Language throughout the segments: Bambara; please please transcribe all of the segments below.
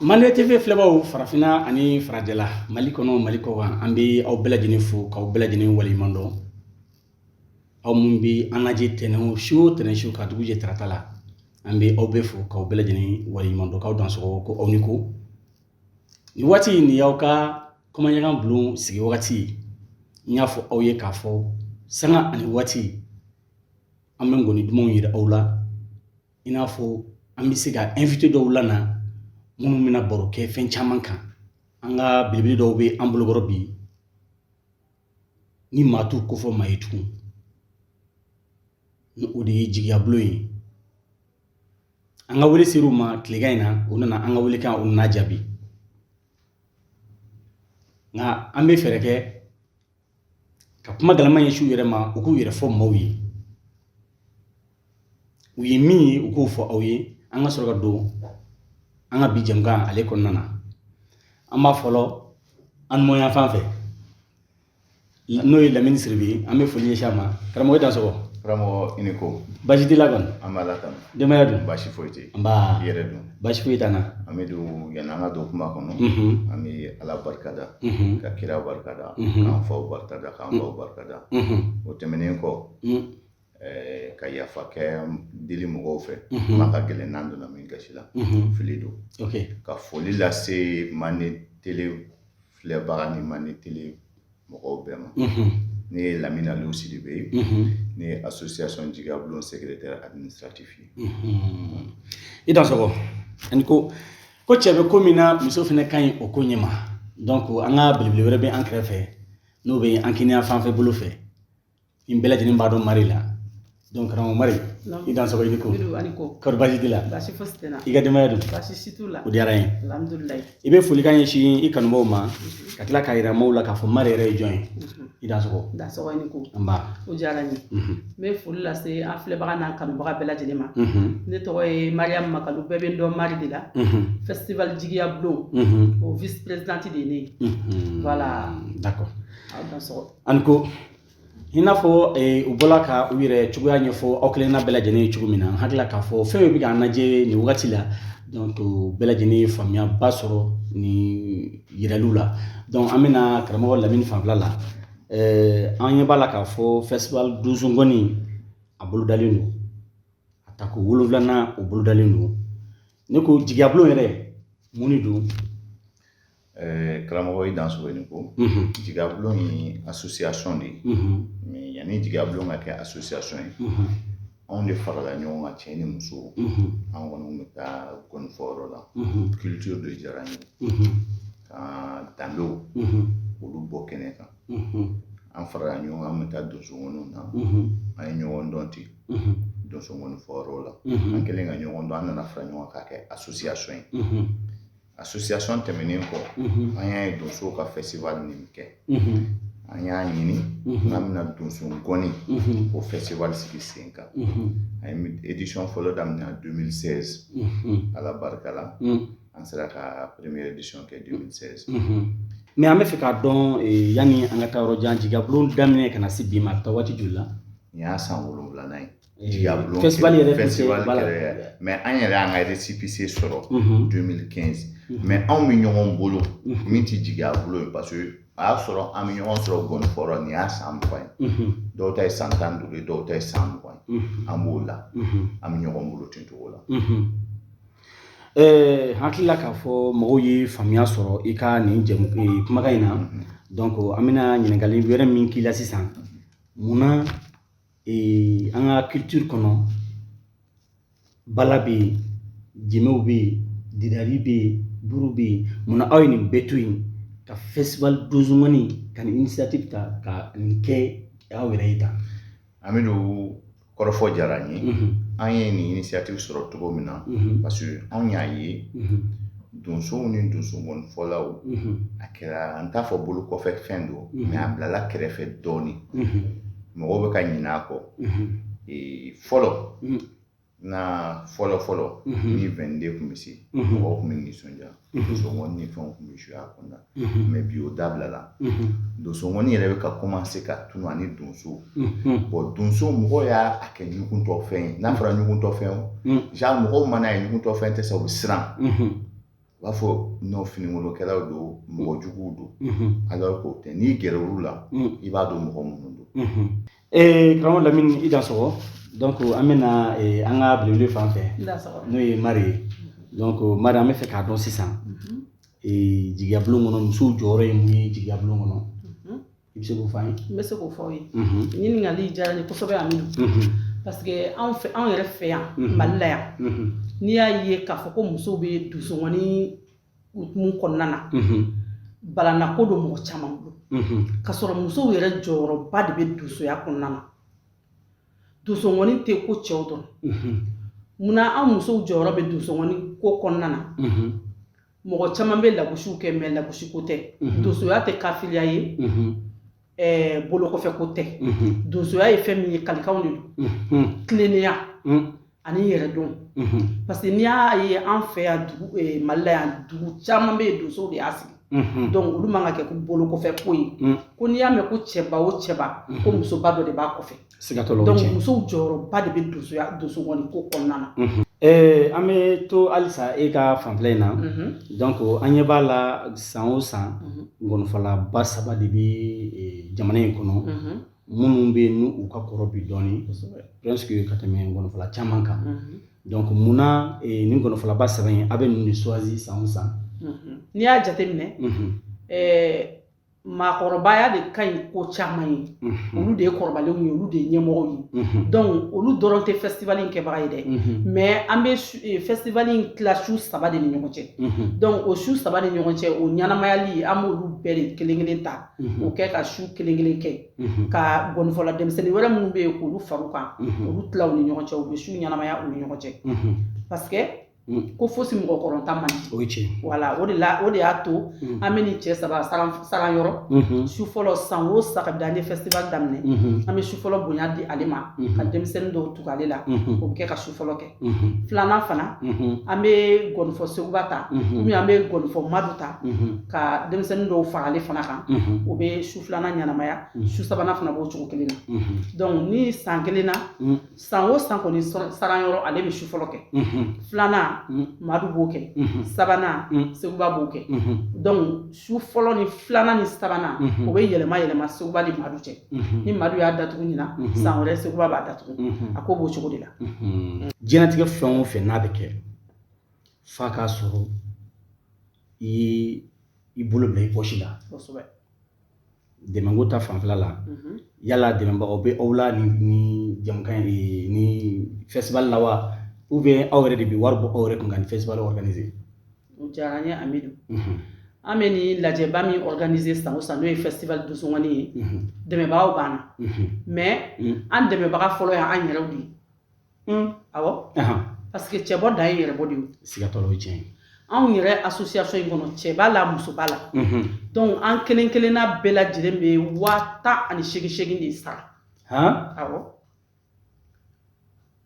Mande TV filɛbaaw farafinna ani farajɛla Mali kɔnɔ Mali kɔ kan an bɛ aw bɛɛ lajɛlen fo k'aw bɛɛ lajɛlen waleɲuman dɔn aw minnu bɛ an lajɛ tɛnɛn su o tɛnɛn su ka dugu jɛ tarata la an bɛ aw bɛɛ fo k'aw bɛɛ lajɛlen waleɲuman dɔn k'aw dansɔgɔ ko aw ni ko nin waati in nin y'aw ka komaɲaga bulon sigi wagati ye n y'a fɔ aw ye k'a fɔ sanga ani waati an bɛ ngɔni dumanw yira aw la i n'a fɔ an bɛ se ka invité dɔw lana minnu bɛna baro kɛ fɛn caman kan an ka belebele dɔw bɛ an bolokɔrɔ bi ni maa t'u kofɔ maa ye tugun ni o de ye jigiya bulon ye an ka wele sera u ma tilekan in na u nana an ka wele kan o nana jaabi nka an bɛ fɛɛrɛ kɛ ka kuma galama ɲɛsin u yɛrɛ ma u k'u yɛrɛ fɔ maaw ye u ye min ye u k'o fɔ aw ye an ka sɔrɔ ka don an ka bi jɛmukan ale kɔnɔna na an b'a fɔlɔ an numanya fan fɛ n'o ye lamini siribe an bɛ foli ɲɛsin a ma karamɔgɔ dansɔgɔ karamɔgɔ i ni ko baasi t'i la kɔni nba ala tanu Denbaya dun? Baasi foyi tɛ yen. Nba. I yɛrɛ dun? Baasi foyi t'an na. An bɛ don yani an ka don kuma kɔnɔ. An bɛ Ala barika da. Ka kira barika da. K'an faw barika da, k'an baw barika da. O tɛmɛnen kɔ. Ka yafa kɛ deli mɔgɔw fɛ. Kuma ka gɛlɛn n'an donna min gasi la. Fili don. Ok. Ka foli lase manden tele filɛbaga ni manden tele. mɔgɔw bɛɛ ma ne ye lamini alu siribe ye ne ye association jigiya bulon secrétaire administratif ye i dansɔgɔ a ni ko ko cɛ bɛ ko min na muso fana ka ɲi o ko ɲɛ ma donc an ka belebele wɛrɛ bɛ an kɛrɛfɛ n'o bɛ an kiniya fanfɛ bolo fɛ An bɛɛ lajɛlen b'a dɔn mari la donc karamɔgɔ mari i dansɔgɔ i ni ko kɔri baasi t'i la baasi fosi tɛ n na i ka denbaya dun baasi si t'u la o diyara n ye alhamdulilayi i bɛ folikan ɲɛsin i kanubaaw ma ka tila k'a yira maaw la k'a fɔ mari yɛrɛ ye jɔn ye i dansɔgɔ dansɔgɔ i ni ko nba o diyara n ye n bɛ foli lase an filɛbaga n'an kanubaga bɛɛ lajɛlen ma ne tɔgɔ ye mariyamu makalu bɛɛ bɛ n dɔn mari de la festival jigiya bulon o vice présidente de ye ne ye voilà d'accord aw dansɔgɔ Aw ni ko i n'a fɔ u bɔla ka u yɛrɛ cogoya ɲɛfɔ aw kelen na bɛɛ lajɛlen ye cogo min na an hakili la k'a fɔ fɛn min bɛ k'an lajɛ nin wagati la bɛɛ lajɛlen ye faamuyaba sɔrɔ nin yiraliw la an bɛna karamɔgɔ lamini fanfɛla la an ɲɛ b'a la k'a fɔ festival donso ngɔni a bolodalen don a tako wolonwulanan o bolodalen don ne ko jigiya bulon yɛrɛ mun de don Ɛɛ karamɔgɔ i dansɔgɔ ko jigiya bulon ye association de ye mais yanni jigiya bulon ka kɛ association ye anw de farala ɲɔgɔn kan cɛ ni muso an kɔni bɛ taa ngɔnifɔyɔrɔ la culture de diyara an ye ka danbew olu bɔ kɛnɛ kan an farala ɲɔgɔn kan an bɛ taa donsongɔniw na an ye ɲɔgɔn dɔn ten donsongɔnifɔyɔrɔ la an kɛlen ka ɲɔgɔn dɔn an nana fara ɲɔgɔn kan k'a kɛ association ye association tɛmɛnen kɔ an y'a ye donsow ka festival nin kɛ an y'a ɲini n'an bɛna donsongɔni o festival sigi sen kan an ye édition fɔlɔ daminɛ 2016 ala barika la an sera ka première édition kɛ 2016 mais an bɛ fɛ k'a dɔn yanni an ka taa yɔrɔ jan jigiya bulon daminɛ ka na se bi ma a bɛ taa waati joli la nin y'a san wolonwulanan ye Jigiya bulon festival yɛrɛ festival yɛrɛ mais an yɛrɛ y'an ka récépissé sɔrɔ 2015 mais anw bɛ ɲɔgɔn bolo min tɛ jigiya bulon ye parce que a y'a sɔrɔ an bɛ ɲɔgɔn sɔrɔ ngɔnifɔyɔrɔ nin y'a san mugan ye dɔw ta ye san tan ni duuru ye dɔw ta ye san mugan ye an b'o la an bɛ ɲɔgɔn bolo ten cogo la ɛɛ hakili la k'a fɔ mɔgɔw ye faamuya sɔrɔ i ka nin jɛmu kumakan in na donc an bɛna ɲininkali wɛrɛ min k'i la sisan mun na ee an ka culture kɔnɔ bala bɛ yen jenbew bɛ yen didadi bɛ yen buru bɛ yen munna aw ye nin bɛɛ to yen ka festival donsongɔni ka nin initiative ta ka nin kɛ aw yɛrɛ ye tan amidu kɔrɔfɔ diyara an ye an ye nin initiative sɔrɔ cogo min na parce que anw y'a ye donsow ni donsongɔnifɔlaw a kɛra an t'a fɔ bolo kɔfɛ fɛn don mais a bilala kɛrɛfɛ dɔɔnin mɔgɔw bɛ ka ɲinɛ a kɔ fɔlɔ n ka fɔlɔ fɔlɔ ni 22 tun bɛ se mɔgɔw tun bɛ nisɔndiya donsongɔni ni fɛnw tun bɛ jouer a kɔnɔna mais bi o dabilala donsongɔni yɛrɛ bɛ ka commencer ka tunun ni donsow bon donsow mɔgɔw y'a kɛ ɲuguntɔ fɛn ye n'a fɔra ɲuguntɔ fɛn o genre mɔgɔw man'a ye ɲuguntɔ fɛn tɛ se u bɛ siran u b'a fɔ nɔ finikolokɛlaw don mɔgɔ juguw don alors qu'o tɛ n'i gɛrɛ olu la i b'a dɔn mɔgɔ minnu don ee karamɔgɔ lamini i dansɔgɔ donc an bɛna an ka belebele fan fɛ n'o ye mari ye donc mari an bɛ fɛ k'a dɔn sisan jigiya bulon kɔnɔ musow jɔyɔrɔ ye mun ye jigiya bulon kɔnɔ i bɛ se k'o fɔ an ye n bɛ se k'o fɔ aw ye ɲininkali diyara n ye kosɛbɛ amidu parce que anw fɛ anw yɛrɛ fɛ yan mali la yan n'i y'a ye k'a fɔ ko musow bɛ donsongɔni hukumu kɔnɔna na balanako don mɔgɔ caman bolo ka sɔrɔ musow yɛrɛ jɔyɔrɔba de bɛ donsoya kɔnɔna na donsongɔni tɛ ko cɛw dɔrɔn munna an musow jɔyɔrɔ bɛ donsongɔni ko kɔnɔna na mɔgɔ caman bɛ lagosiw kɛ mais lagosi ko tɛ mhm. donsoya tɛ kafiriya ye mhm. eh, bolo kɔfɛ ko tɛ mhm. donsoya ye fɛn min ye kalikanw de don tilennenya ani yɛrɛdon parce que n'i y'a ye an fɛ yan dugu eh, mali la yan dugu caman bɛ yen donsow de y'a sigi Mm-hmm. donc olu man ka kɛ ko bolo kɔfɛ ko ye mm. ko n'i y'a mɛn ko cɛba o cɛba ko mm-hmm. musoba dɔ de b'a kɔfɛ siga t'o la donc musow jɔyɔrɔba de bɛ donsoya donsongɔni ko kɔnɔna na ee an bɛ to halisa e ka fanfɛla in na donc an ɲɛ b'a la san o san ngɔnifɔlaba saba de bɛ jamana in kɔnɔ minnu bɛ yen n'u u ka kɔrɔ bi dɔɔni presque ka tɛmɛ ngɔnifɔla caman kan donc mun na nin ngɔnifɔlaba saba in a bɛ ninnu de choisi san o san n'i y'a jateminɛ ɛɛ maakɔrɔbaya de ka ɲi ko caman ye olu de ye kɔrɔbalenw ye olu de ye ɲɛmɔgɔw ye donc olu dɔrɔn tɛ festival in kɛbaga ye dɛ mais an bɛ eh, festival in tila su saba de ni ɲɔgɔn cɛ donc o su saba ni ɲɔgɔn cɛ o ɲɛnamayali an b'olu bɛɛ de kelen kelen ta o kɛ ka su kelen kelen kɛ ka gɔnifɔla denmisɛnnin wɛrɛ minnu bɛ yen k'olu fara u kan olu tila u ni ɲɔgɔn cɛ u bɛ su ɲɛnamaya u ni ɲɔgɔn cɛ parce que Mm. ko fosi mɔgɔkɔrɔntan man ɲi voilà o de y'a to mm. an bɛ nin cɛ saba saran yɔrɔ mm-hmm. su fɔlɔ san o san kabi an ye festival daminɛ mm-hmm. an bɛ su fɔlɔ bonya di ale ma mm-hmm. ka denmisɛnnin dɔw tugu ale la o bɛ kɛ ka su fɔlɔ kɛ filanan fana an bɛ gɔnifɔ seguba ta ou bien an bɛ gɔnifɔ madu ta ka denmisɛnnin dɔw fara ale fana kan o bɛ su filanan ɲɛnamaya su sabanan fana b'o cogo kelen na donc ni san kelen na san o san kɔni saran yɔrɔ ale bɛ su fɔlɔ kɛ filanan madu b'o kɛ sabanan seguba b'o kɛ donc su fɔlɔ ni filanan ni sabanan o bɛ yɛlɛma yɛlɛma seguba ni madu cɛ ni madu y'a datugu ɲinan san wɛrɛ seguba b'a datugu a ko b'o cogo de la diɲɛlatigɛ fɛn o fɛn n'a bɛ kɛ f'a k'a sɔrɔ i i bolo bila i pɔsi la dɛmɛko ta fanfɛla la mhm. yala dɛmɛbagaw bɛ aw la ni ni jamukan ye ni festival la wa ou bien aw yɛrɛ de bɛ wari bɔ aw yɛrɛ kun ka ni festival organiser o diyara an ye amidu mhm. an bɛ ni lajɛba min organiser san o san n'o ye festival donsongɔni ye mhm. dɛmɛbagaw b'an na mais an dɛmɛbaga fɔlɔ y'an yɛrɛw de ye Parce que cɛbɔ dan ye yɛrɛbɔ de ye anw yɛrɛ association in kɔnɔ cɛ b'a la muso b'a la an kelen kelen' bɛɛ lajɛlen bɛ waa tan ani segin segin de sara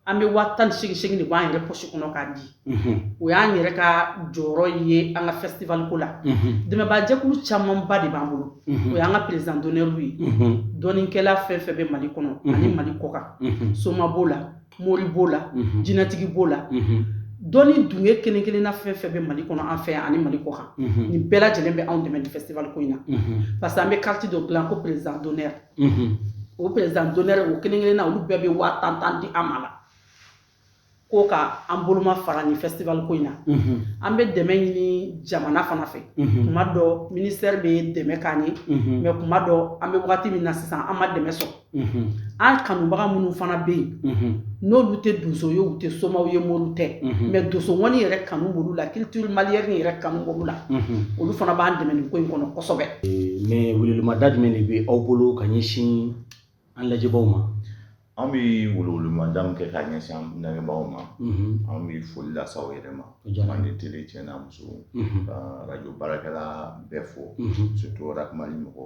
an bɛ waa tan ni segin segin de b'an yɛrɛ pɔsi kɔnɔ k'a di o y'an yɛrɛ ka jɔyɔrɔ ye an ka festival ko la dɛmɛbaajɛkulu camanba de b'an bolo o y'an ka président d'honneurw ye dɔnnikɛla fɛn fɛn bɛ mali kɔnɔ ani mali kɔkan soma b'o la mori b'o la jinɛtigi b'o la dɔnni dunge kelen kelenna fɛn fɛn bɛ mali kɔnɔ an fɛ yan ani mali kɔkan nin bɛɛ lajɛlen bɛ anw dɛmɛ ni festival ko in na parce que an bɛ carte dɔ dilan ko président d'honneur o président d'honneur o kelen kelenna olu bɛɛ bɛ waa tan tan di an ma la ko ka an bolomafara ni festival ko in na an bɛ dɛmɛ ɲini jamana fana fɛ kuma dɔ ministère bɛ dɛmɛ k'an ye mais kuma dɔ an bɛ wagati min na sisan an ma dɛmɛ sɔrɔ an kanubaga minnu fana bɛ yen n'olu tɛ donso ye u tɛ somaw ye moriw tɛ mais donso ŋɔni yɛrɛ kanu b'olu la culture malienne yɛrɛ kanu b'olu la olu fana b'an dɛmɛ nin ko in kɔnɔ kosɛbɛ mais welewelemada jumɛn de bɛ aw bolo ka ɲɛsin An lajɛbaaw ma an bɛ welewelemada min kɛ k'a ɲɛsin an lamɛnbagaw ma an bɛ foli lase aw yɛrɛ ma ani télé cɛ n'a muso ka radio baarakɛla bɛɛ fo surtout ka mali mɔgɔ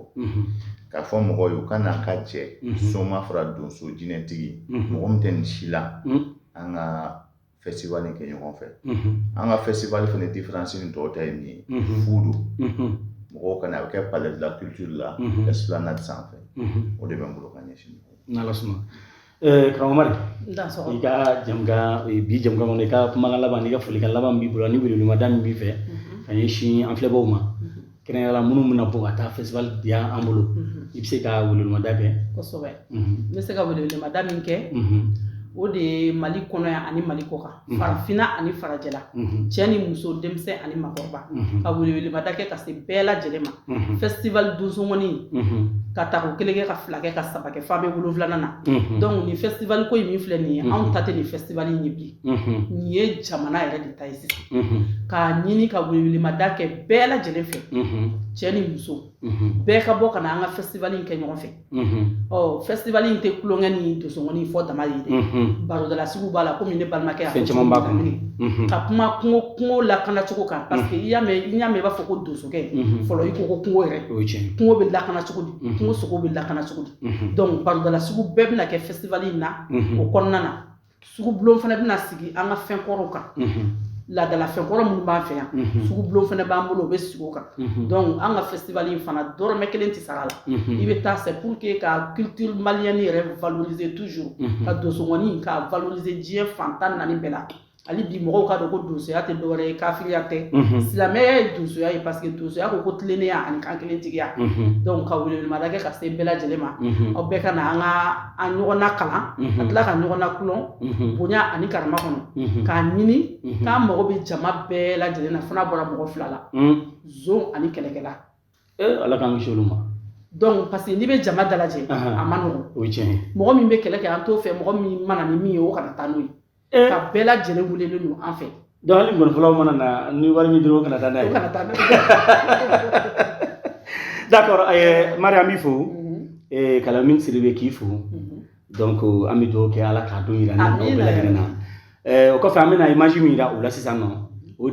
k'a fɔ mɔgɔw ye u ka n'an ka jɛ soma fara donso jinɛtigi mɔgɔ min tɛ nin si la an ka festival kɛ ɲɔgɔn fɛ an ka festival fana différence ni tɔw ta ye min ye fu don mɔgɔw ka na a bɛ kɛ palais de la culture la esplanade sanfɛ o de bɛ n bolo ka ɲɛsin aw ma karamɔgɔ mari i ka bi jɛmukan kɔnɔ i ka kumakan laban i ka folikan laban b'i bolo ni welewelemada min b'i fɛ ka ɲɛsin an filɛbaw ma Kɛrɛnkɛrɛnla minnu bɛna bɔ ka taa festival di an bolo i bɛ se ka welewelemada kɛ kosɛbɛ n bɛ se ka welewelemada min kɛ o de ye mali kɔnɔ yan ani mali kɔkan farafinna ani farajɛla cɛ ni muso denmisɛn ani maakɔrɔba ka welewelemada kɛ ka se bɛɛ lajɛlen ma festival donso ŋɔni k'a tako kelen kɛ ka fila kɛ ka saba kɛ f'a bɛ wolonwulanan na donc ni festival ko in min filɛ nin ye anw ta tɛ nin festival in ye bi nin ye jamana yɛrɛ de ta ye sisan k'a ɲini ka welewelemada kɛ bɛɛ lajɛlen fɛ cɛ ni muso bɛɛ ka bɔ ka na an ka festival in kɛ ɲɔgɔn fɛ ɔ festival in tɛ tulonkɛ ni donso ŋɔni fɔ dama ye dɛ barodalasigiw b'a la komi ne balimakɛ y'a fɔ caman b'a kɔnɔ ka kuma kungo kungo lakana cogo kan parce que i y'a mɛn i y'a mɛn i b'a fɔ ko donsokɛ fɔlɔ i ko ko kungo yɛrɛ o ye tiɲɛ kungo bɛ lakana cogo di kungo sogo bɛ lakana cogo di donc barodalasigiw bɛɛ bɛna kɛ festival in na o kɔnɔna na sugubulon fana bɛna sigi an ka fɛn kɔrɔw kan laadala fɛn kɔrɔ minnu b'an fɛ yan sugubulon fana b'an bolo o bɛ sigi o kan donc an ka festival in fana dɔrɔmɛ kelen tɛ sara la i bɛ taa c'est pour que ka culture malienne yɛrɛ valoriser toujours ka donso ŋɔni ka valoriser diɲɛ fan tan naani bɛɛ la hali bi mɔgɔw k'a dɔn ko donsoya tɛ dɔwɛrɛ ye kafiriya tɛ silamɛya ye donsoya ye parce que donsoya ko ko tilennenya ani kankelentigiya donc ka welewelemada kɛ ka se bɛɛ lajɛlen ma aw bɛɛ ka na an ka a ɲɔgɔn nakalan ka tila ka ɲɔgɔn nakulɔn bonya ani karama kɔnɔ k'a ɲini k'an mago bɛ jama bɛɛ lajɛlen na fo n'a bɔra mɔgɔ fila la zon ani kɛlɛkɛla ala k'an kisi olu ma donc parce que n'i bɛ jama dalajɛ a ma nɔgɔn o ye tiɲɛ ye mɔgɔ min bɛ kɛlɛ kɛ an t'o fɛ mɔgɔ min mana ni min ye o kana taa n'o ye Eh. ka bɛɛ lajɛlen welelen don an fɛ donc hali ngɔnifɔlaw mana na ni wari min dɔrɔn kana taa n'a ye kana taa n'a d'accord eh, mari an b'i fo eh, ka lamin siribe k'i fo donc an bɛ dugawu kɛ ala k'a don yira an ni aw bɛɛ lajɛlen na o kɔfɛ an bɛna image min yira aw la sisan nɔ